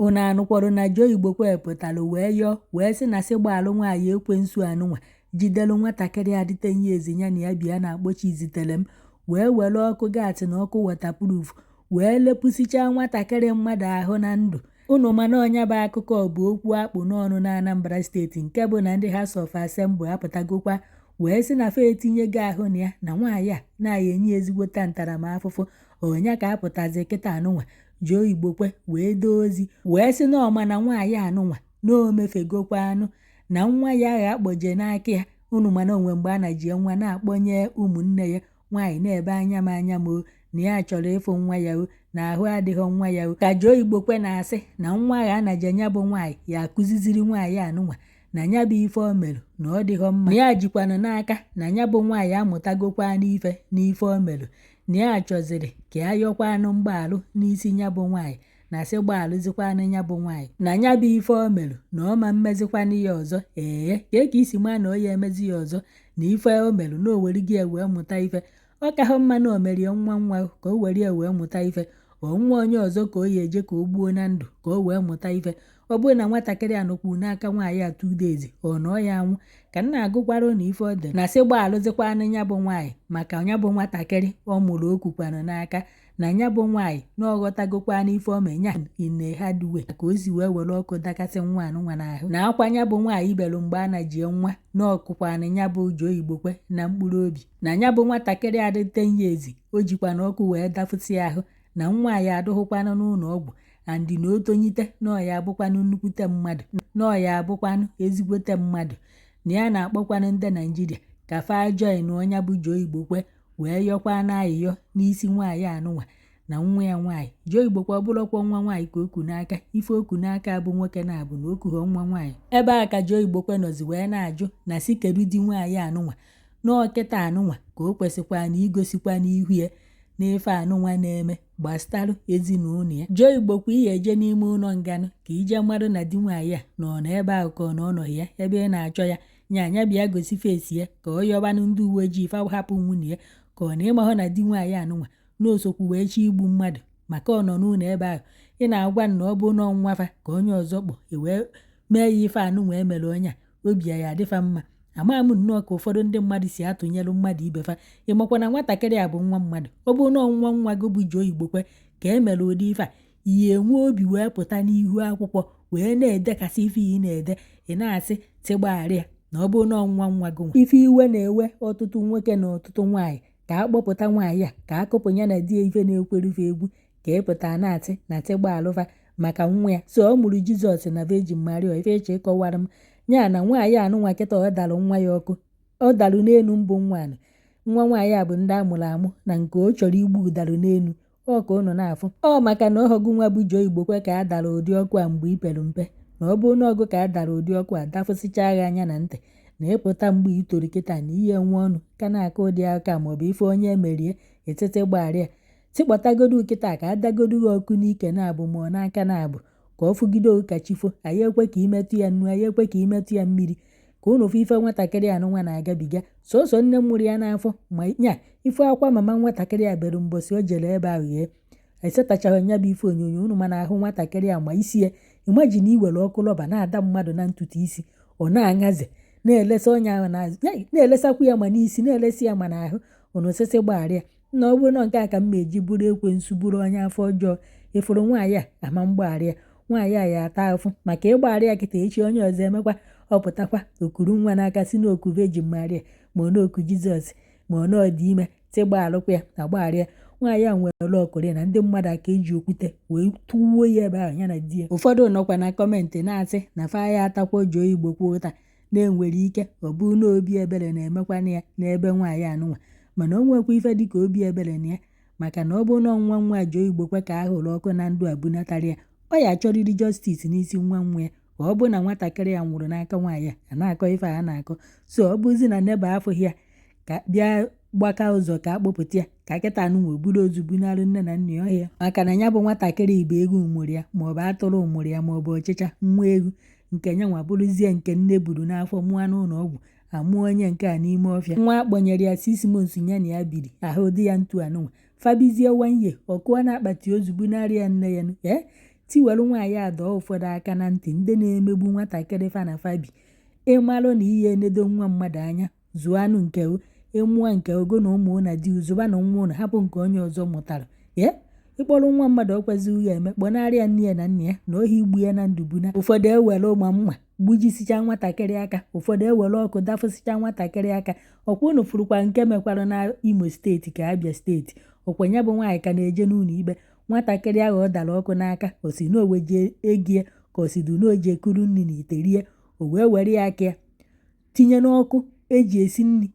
Unu anụkwọrọ na Joe Igbokwe pụtara wee yọọ wee sị na sị gbaalụ nwaanyị ekwensu anụnwa jidere nwatakịrị a dị ten years ya na ya bi a na-akpọ Chiziterem wee were ọkụ gaasị na ọkụ waterproof wee lepụsichaa nwatakịrị mmadụ ahụ na ndụ unu ma na nya bụ akụkọ bụ okwu a kpụ n'ọnụ na Anambra steeti nke bụ na ndị House of Assembly apụtagokwa wee sị na fa etinyego ahụ na ya na nwaanyị a na a ya enye ezigbote ntaramahụhụ ọ nya ka apụtazi kịta anụnwa Joe Igbokwe wee doo ozi wee sị na ọ ma na nwaanyị anụnwa na o mefegokwanụ na nwa ya ahụ a kpọje n'aka ya unu ma na o nwe mgbe a najị nwa na-akpọnye ụmụnne ya nwaanyị na-ebe anya m anya m o na ya chọrọ ịfụ nwa ya o na ahụ adịghị nwa ya o ka Joe Igbokwe na-asị na nwa ahụ a najị nya bụ nwaanyị ya akụziziri nwaanyị anụnwa na nya bụ ife o mere na ọ dịghọ mma na ya jikwanụ n'aka na nya bụ nwaanyị amụtagokwanụ ife n'ife o mere na ya chọziri ka ya yọkwanụ mgbaalụ n'isi ya bụ nwaanyị na sị gbaalụzikwanụ ya bụ nwaanyị na ya bụ ife o merụ na ọ ma emezikwanụ ya ọzọ ee kee ka i si ma na ọ ya emezi ya ọzọ na ife o merụ na o were gị ya wee mụta ife ọ kahụ mma na o merie nwa nwa ka o were ya wee mụta ife ọ nwa onye ọzọ ka ọ ya eje ka o gbuo na ndụ ka o wee mụta ife ọ bụrụ na nwatakịrị a nọkwuru n'aka nwaanyị a two days ọ na ọ ya anwụ ka m na-agụkwara ụnụ ife o de na sị gbaalụzikwanụ ya bụ nwaanyị maka ya bụ nwatakịrị ọ mụrụ o kukwanụ n'aka na ya bụ nwaanyị na ọ ghọtagokwanụ ife o me nya ine ha duwe ka o si wee were ọkụ dakasị nwa anụnwa n'ahụ na akwa ya bụ nwaanyị belu mgbe a najie nwa na ọ kụkwanụ ya bụ Joe Igbokwe na mkpụrụ obi na ya bụ nwatakịrị a dị ten years o jikwanụ ọkụ wee dafụsị ahụ na nwa ya adụghịkwanụ n'ụlọ ọgwụ and na o tonyite na ọ ya abụkwanụ nnukwute mmadụ na ọ ya abụkwanụ ezigbote mmadụ na ya na-akpọkwanụ ndị Naịjirịa ka fa join nya bụ Joe Igbokwe wee yọkwanụ ayịyọ n'isi nwaanyị anụnwa na nwa ya nwaanyị Joe Igbokwe ọ bụrụkwa nwa nwaanyị ka o ku n'aka ife o ku n'aka bụ nwoke na-abụ na o kughọ nwa nwaanyị ebe a ka Joe Igbokwe nọzi wee na-ajụ na sị kedu di nwaanyị anụnwa na ọ kịta anụnwa ka o kwesịkwanụ igosikwanụ ihu ya na ife anụnwa na-eme gbasara ezinụlọ ya Joe Igbokwe ị ya eje n'ime ụlọ nganụ ka i je malụ na di nwaanyị a na ọ nọ ebe ahụ ka ọ na ọ nọghị ya ebe ị na-achọ ya nya bịa gosi face ya ka ọ yọbanụ ndị uwe ojii fa hapụ nwunye ya ka ọ na ị mahụ na di nwaanyị anụnwa na o sokwu wee chọ igbu mmadụ maka ọ nọ n'ụlọ ebe ahụ ị na-agwa na ọ bụ na ọ nwa fa ka onye ọzọ kpọ wee mee ya ife anụnwa e mere onye a obi ya adị fa mma amaghị m nnọọ ka ụfọdụ ndị mmadụ si atụnyelụ mmadụ ibe fa ị makwa na nwatakịrị a bụ nwa mmadụ ọ bụ na nwa nwa gị bụ Joe Igbokwe ka e mere ụdị ife a ị ya enwe obi wee pụta n'ihu akwụkwọ wee na-edekasị ife ị na-ede ị na-asị sị gbagharị ya na ọ bụ na nwa nwa gị nwa ife iwe na-ewe ọtụtụ nwoke na ọtụtụ nwaanyị ka a kpọpụta nwaanyị a ka a kụpụ ya na di ya ife na-ekwere ife egwu ka ị pụtara na-atị na tị gbaalụ va maka nwa ya so ọ mụrụ jizọs na Virgin Maria ife eche ịkọwara m ya na nwaanyị anụnwa kịta ọ dalụ nwa ya ọkụ ọ dalụ n'elu mbụ nwa anụnwa nwaanyị a bụ ndị a mụrụ amụ na nke ọ chọrọ igbu ọ dalụ n'elu ọkwa ụnụ na-afụ ọ maka na ọ ọ gụ nwa bụ Joe Igbokwe ka a dara ụdị ọkụ a mgbe i pere mpe na ọ bụrụ na ọ gụ ka a dara ụdị ọkụ a dafụsịchaa gị anya na ntị na ị pụta mgbe i toro kịta na ị ya-enwe ọnụ ka na-aka ụdị aka maọbụ ife onye emerie etete gbagharịa tị kpọtagodu kịta ka a dagodu gị ọkụ n'ike naabọ ma ọ n'aka naabọ ka ọ fụgide ka chi fo anyị ekwe ka i metụ ya nnu anyị ekwe ka i metụ ya mmiri ka ụnụ fụ ife nwatakịrị a nwa na-agabiga sọsọ nne mụrụ ya n'afọ ma nya ife akwa mama nwatakịrị a bere mbọsị o jere ebe ahụ ya esetachaghị nya bụ ife onyonyo ụnụ ma na ahụ nwatakịrị a ma isi ya imagine iwere ọkụ rọba na-ada mmadụ na ntutu isi ọ na-aṅaze na-elesa onye ahụ na-elesakwu ya ma n'isi na-elesa ya ma n'ahụ ụnụ asị sị gbagharịa na ọ bụrụ na nke a ka m na-eji bụrụ ekwensu bụrụ onye afọ ọjọọ ị fụrụ nwaanyị a ama m gbagharị ya nwaanyị a ya ata afụ maka ị gbagharị ya kịta echi onye ọzọ emekwa ọ pụtakwa o kuru nwa n'aka si na o ku Virgin Maria ma ọ na o ku jizọs ma ọ na ọ dị ime tị gbaalụkwa ya agbagharị ya nwaanyị a nwere ọkụrị na ndị mmadụ aka eji okwute wee tụwuo ya ebe ahụ ya na di ya ụfọdụ nọkwa na comment na-asị na fa ya atakwa Joe Igbokwe ụta na e nwere ike ọ bụ na obi ebere na-emekwana ya n'ebe nwaanyị anụnwa mana o nwekwa ife dịka obi ebere na ya maka na ọ bụ na nwa nwa Joe Igbokwe ka a hụrụ ọkụ na ndụ a bunatara ya ọ ya-achọrịrị justice n'isi nwa nwa ya ka ọ bụ na nwatakịrị ya nwụrụ n'aka nwaanyị a na-akọ ife a na-akọ so ọ bụzi na neighbour afụghị ya ka bịa gbaka ụzọ ka a kpọpụta ya ka kịta anụnwa buru ozu bunarị nne na nna ya ọhịa maka na ya bụ nwatakịrị ọ bụ ewu mụrụ ya maọbụ atụrụ mụrụ ya maọbụ ọchịcha nwa ewu nke ya nwa bụrụzie nke nne buru n'afọ mụọ n'ụlọ ọgwụ a mụọ onye nke a n'ime ọfịa nwa a kpọnyere ya six months ya na ya biri ahụ dị ya etu anụnwa fa bizie one year ọ kụọ na akpati ozu bunarị ya nne ya ee tị welụ nwaanyị a dọọ ụfọdụ aka na ntị ndị na-emegbu nwatakịrị fa na fa bi ị malụ na ị ya-enedo nwa mmadụ anya Zụọ anụ nke o, ị mụọ e nke ogo na ụmụ na di ụzụba na nwa ụnụ hapụ nke onye ọzọ mụtara. Ye? Ị kpọrọ nwa mmadụ o kwezighị ya eme kpọnarị ya nne ya na nna ya na ohi igbu ya na ndụ buna. Ụfọdụ ewere ụma mma gbujisicha nwatakịrị aka ụfọdụ ewere ọkụ dafụsịcha nwatakịrị aka ọkwa ụnụ fụrụkwa nke mekwara na Imo steeti ka Abia steeti ọkwa ya bụ nwaanyị ka na-eje n'ụlọ ikpe nwatakịrị ahụ ọ dara ọkụ n'aka ọ sị na o weje ego ya ka ọ sịdụ na o je kuru nri na ite rie o wee were ya aka ya tinye n'ọkụ eji esi nri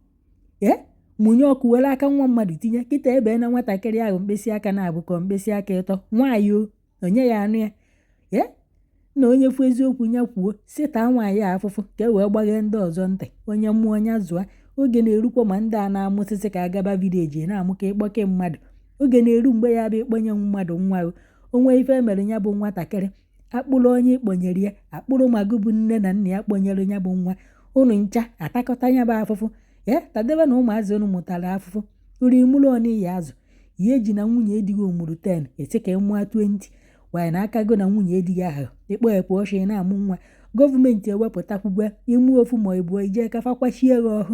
ee mụnye ọkụ were aka nwa mmadụ tinye kịta e bena nwatakịrị ahụ mkpịsị aka naabọ ka mkpịsị aka ịtọ nwaanyị o onye ya anụ ya ee na onye fụ eziokwu ya kwuo sị taa nwaanyị a afụfụ ka e wee gbaghee ndị ọzọ ntị onye mụọ nya zụa oge na-erukwa ma ndị a na-amụsịsị ka a gaba vileji na-amụ ka ịkpọke mmadụ oge na-eru mgbe ya bụ ịkpọnye mmadụ nwa o nwee ife e mere ya bụ nwatakịrị a kpụrụ onye ị kpọnyere ya a kpụrụ ma gị bụ nne na nna ya kpọnyere ya bụ nwa unu ncha atakọta ya bụ afụfụ ya tadebenụ ụmụazị unu mụtara afụfụ nri mụrụ one ị ya-azụ ya eji na nwunye di gị ọ mụrụ 10 ị sị ka ị mụa 20 nwaanyị na aka go na nwunye di gị ahụ ịkpọ ekwe ọchị na-amụ nwa gọọmenti ewepụtakwugwe ị mụọ ofu ma ịbụọ i je ka fa kwachie gị ọhụ